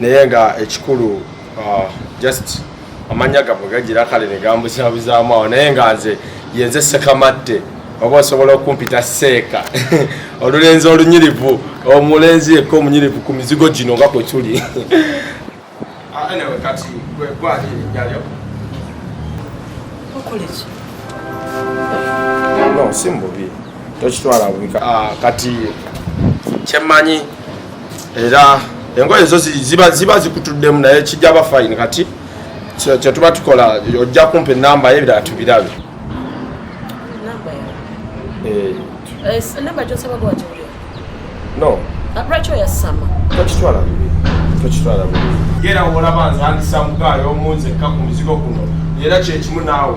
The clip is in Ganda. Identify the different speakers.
Speaker 1: naye nga ekikulu uh, just amannya gabwe gagira kale ne gambuzabuzaamu awo naye nga nze yenze sekamadde oba osobola okumpita seeka olulenzi olunyirivu omulenzi yekka omunyirivu ku mizigo gino nga kwe tuli ah, no si mububi tokitwala bubika ah, kati kyemmanyi era engoye ezo ziba ziba zikutuddemu naye kijja ba fine kati kyetuba tukola ojja kumpa enamba ye ebirala tubirabe
Speaker 2: eh. Eh, no
Speaker 1: ah, lwaki
Speaker 2: oyasama tokitwala bibi
Speaker 1: tokitwala bibi era olaba nzandisa mugaayo omunzekka ku muzigo guno era kyekimu naawe